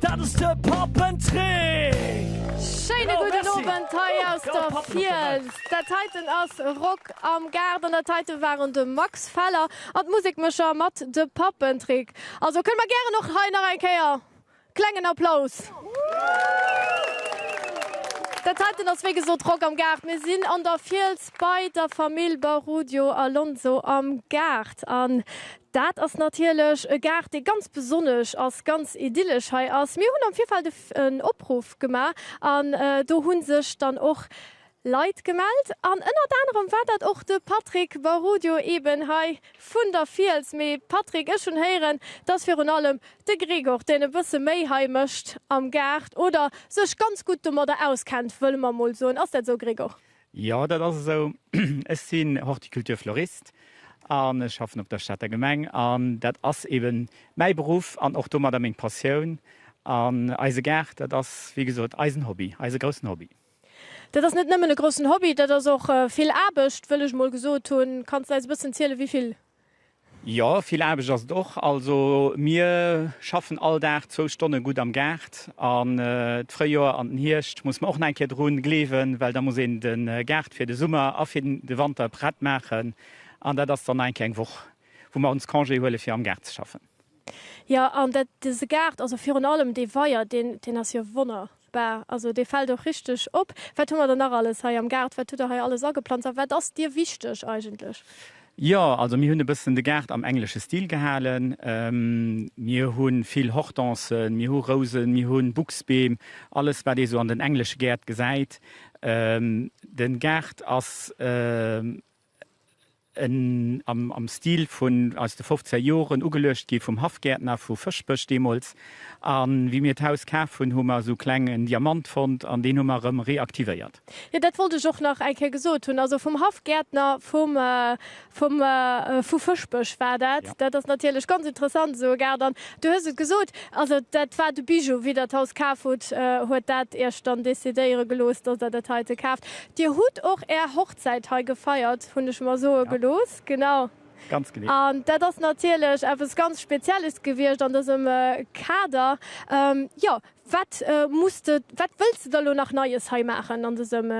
Dat ass de Pappentrick! Schéine gudden Owend hei aus der Fiels. Dat heiten ass Rock am Gaart an dat heite waren de Max Feller an d'Musekmëscher mat de Pappentrick. Also kënne mer gären och hei nach eng Kéier klengen Applaus. Dat heiten ass wéi gesot Rock am Gaart. Mir sinn an der Fiels bei der Famill Barudio Alonso am Gaart. Dat ass natierlech e Gaart, dee ganz besonnesch ass, ganz idyllesch hei ass. Mir hunn am Virfeld e en Opruff gemaach an do hu sech dann och Leit gemellt. An ënnert anerem war dat och de Patrick Barudio, eben hei vun der Fiels. Mee Patrick, ech hunn héieren, et ass virun allem de Gregor, deen e bësse méi hei mécht am Gaart oder sech ganz gutt domadder auskennt, wëlle mer mol soen. Ass dat esou, Gregor? Jo, dat ass esou. Ech sinn Horticulteur Florist an ech schaffen op der Stater Gemeng. An dat ass eben mäi Beruff an och domadder meng Passioun. An eise Gaart, dat ass wéi gesot eisen Hobby, eise groussen Hobby. Dat ass net nëmmen e groussen Hobby, dat ass och vill Aarbecht, wëll ech mol gesot hunn. Kanns de eis e bëssen zielen, wéi vill Jo, vill Aarbecht ass et och. Also mir schaffen all Dag zwou Stonne gutt am Gaart. An d'Fréijoer an den Hierscht muss mer och nach eng Kéier dru gleewen, well da muss een de Gaart fir de Summer a fir de Wanter prett maachen. An dat ass dann nach eng Kéier eng Woch, wou mer ons Congé huele fir am Gaart ze schaffen. Jo, an dat, dëse Gaart, also virun allem dee Weier, deen, deen ass jo wonner bar. Also dee fält och richteg op. Wat hu mer dann nach alles hei am Gaart? Wat hutt Der hei alles ageplanzt a wat ass Dir wichteg eigentlech? Jo, also mir hunn e bëssen de Gaart am englesche Stil gehalen. Mir hu vill Hortensen, mir hu Rousen, mir hu Buchsbeem, alles wat ee sou an den englesche Gäert gesäit. Den Gaart ass En am Stil vun aus de fofzéng Joren, ugeluecht gi vum Haffgäertner vu Fëschbech deemools. A wéi mir d'Haus kaf hunn, hu mer esou kleng en Diamant fonnt an deen hu mer erëm reaktivéiert. Jo, dat wollt ech och nach eng Kéier gesot hunn. Also vum Haffgäertner vum vum vu Fëschbech war dat. Dat ass natierlech ganz interessant, esou e Gaart. An du hues et gesot, also dat war de Bijou. Wéi der d'Haus kaf hutt, huet dat iech dann decidéiere gelooss, dass der dat heite kaaft. Dir hutt och är. Säit hei gefeiert hunn, ech mer soe gelooss. Genau. Ganz genee. An dat ass natierlech eppes ganz Spezielles gewiescht an dësem Kader. Jo, wat muss de, wat wëlls de da elo nach Neies hei maachen an dësem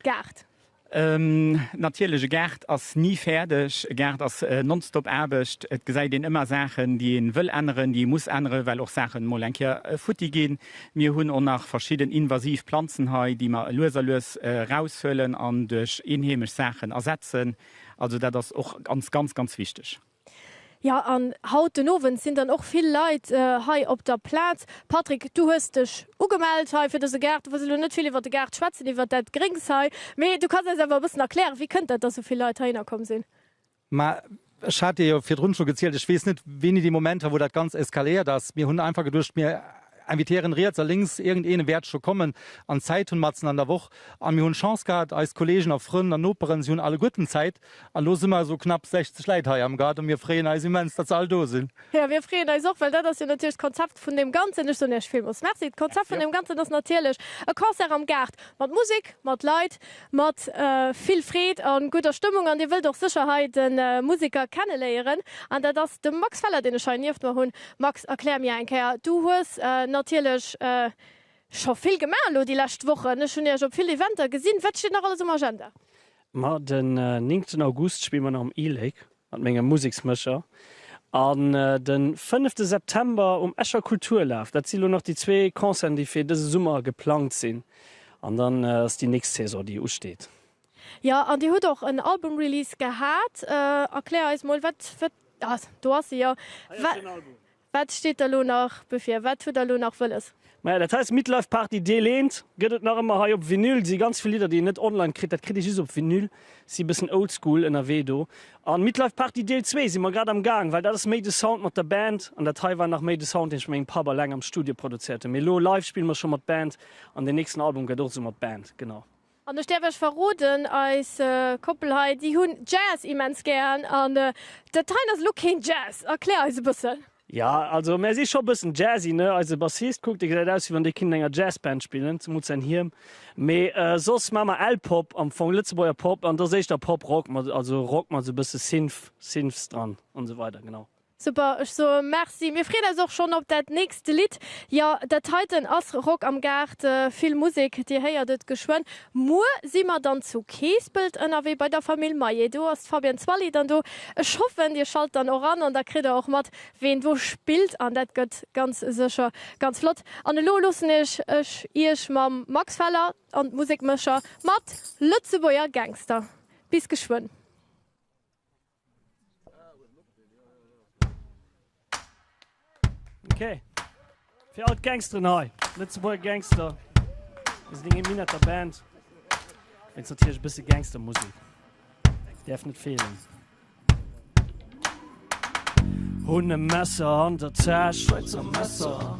Gaart? Natierlech, e Gaart ass ni fäerdeg. E Gaart ass nonstop Aarbecht. Et gesäit een ëmmer Saachen, déi ee wëll änneren, déi ee muss änneren, well och Saachen emol eng Kéier futti ginn. Mir hunn och nach verschidden invasiv Planzen hei, déi mer lues a lues eraushuelen an duerch eenheemesch Saachen ersetzen. Also dat ass och ganz, ganz, ganz wichteg. Jo, an haut den Owend sinn dann och vill Leit hei op der Plaz. Patrick, du hues dech ugemellt hei fir dëse Gaart. Du wëlls elo net vill iwwer de Gaart schwätzen, iwwer dat Gréngs hei, mee du kanns eis awer e bëssen erklären, wéi kënnt dat, dass esou vill Leit heihinner komm sinn? Mä ech hat Dir jo virdrun scho gezielt, ech weess net, wéini dee Moment war, wou dat Ganzt eskaléiert ass. Mir hunn einfach geduecht, mir invitéieren riets a lénks, iergendeen wäert scho kommen. An Zäit hunn matzen an der Woch. A mir hunn Chance gehat, eis Kolleegen a Frënn an Noperen, si hunn alleguerten Zäit. An elo si mer esou knapp 60 Läit hei am Gaart a mir freeën eis immens, datt se all do sinn. Jo, mir freeën eis och, well dat ass jo natierlech d'Konzept vun deem Ganzen. Ech soen Iech villmools Merci. D'Konzept vun deem Ganzen ass natierlech e Concert am Gaart, mat Musek, mat Leit, Mat vill Freed a gudder Stëmmung an dir wëllt och sécher hei de Museker kenneléieren an dat ass de Max Feller deen ech hei nieft mer hunn. Max erklär mir eng Kéier, du hues natierlech scho vill gemaach elo déi lescht Wochen, ech hunn iech op vill Eventer gesinn, wat steet nach alles um Agenda? Ma den 9 August spille mer nach am E-Lake Mat mengem Museksmécher. An den fënnefte September um Escher Kulturlaf. Dat si lo nach déi zwee Concerten, déi fir dëse Summer geplangt sinn. An dann ass déi nächst Saison, déi usteet. Jo, an Dir hutt och en Album-Release gehat. Erklär eis mol, wat, wat, ah, do ass e jo. Hei ass den Album. Wat steet der lo nach bevir? Wat hutt der lo nach wëlles? Maja dat heist Midlife Party Deel 1 gëtt et nach ëmmer hei op Vinyl. Si ganz vill Lidder déi een net online kritt, dat kritt ee just op Vinyl. Si bëssen oldschool ënnerwee do. An Midlife Party Deel 2 si mer grad am gaang, well dat ass méi de Sound mat der Band an dat hei war nach méi de Sound deen ech mengem Papp alleng am Studio produzéiert hunn. Mee lo live spille mer scho mat Band an den nächsten Album gëtt och esou mat Band, genau. An ech däerf iech verroden, eis Koppel hei, déi hunn Jazz immens gären. An dat heien ass elo keen Jazz. Erklär eis e bëssen. Ja, also mär si scho e bëssen jazzy, ne? Eise Bassist, kuckt, dee gesäit aus, wéi wann dee kinnt an enger Jazzband spillen, zemools säin Hiem. Mee soss maache mer L-Pop, am Fong Lëtzebuerger Pop, an et ass éischter Pop-Rock, mat also Rock mat esou e bësse Synth, Synths dran, an esou weider, genau. Super, ech soe Merci. Mir freeën eis och schonn op dat nächst Lidd. Jo, dat heiten ass Rock am Gaart, vill Musek, Dir héiert et geschwënn. Muer si mer dann zu Keespelt ënnerwee bei der Famill Maillet. Do ass d'Fabienne Zwally dann do. Ech hoffen, Dir schalt dann och an an da kritt Der och mat, ween do spillt. An dat gëtt ganz sécher ganz flott. An elo loossen ech Iech mam Max Feller an d'Musekmécher mat Lëtzebuerger Gangster. Bis geschwënn. Okay. Fir all d'Gangsteren hei. Lëtzebuerger Gangster. Ass deng Min der Band. Wéinst natierlech e bësse Gangstermusek. Däerf net feelen. Hunn e Messer an der Täsch. Schwäizer Messer.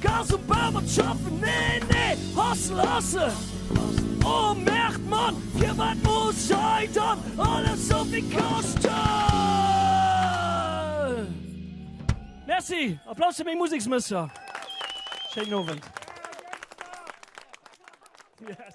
Gas um Bau mat schaffen, nee, nee, Hustle, Hustle, oh Merd, Mann, firwat muss hei dann alles sou vill kaschten? Merci, Applaus fir meng Museksmësser. Schéinen Owend. Yes.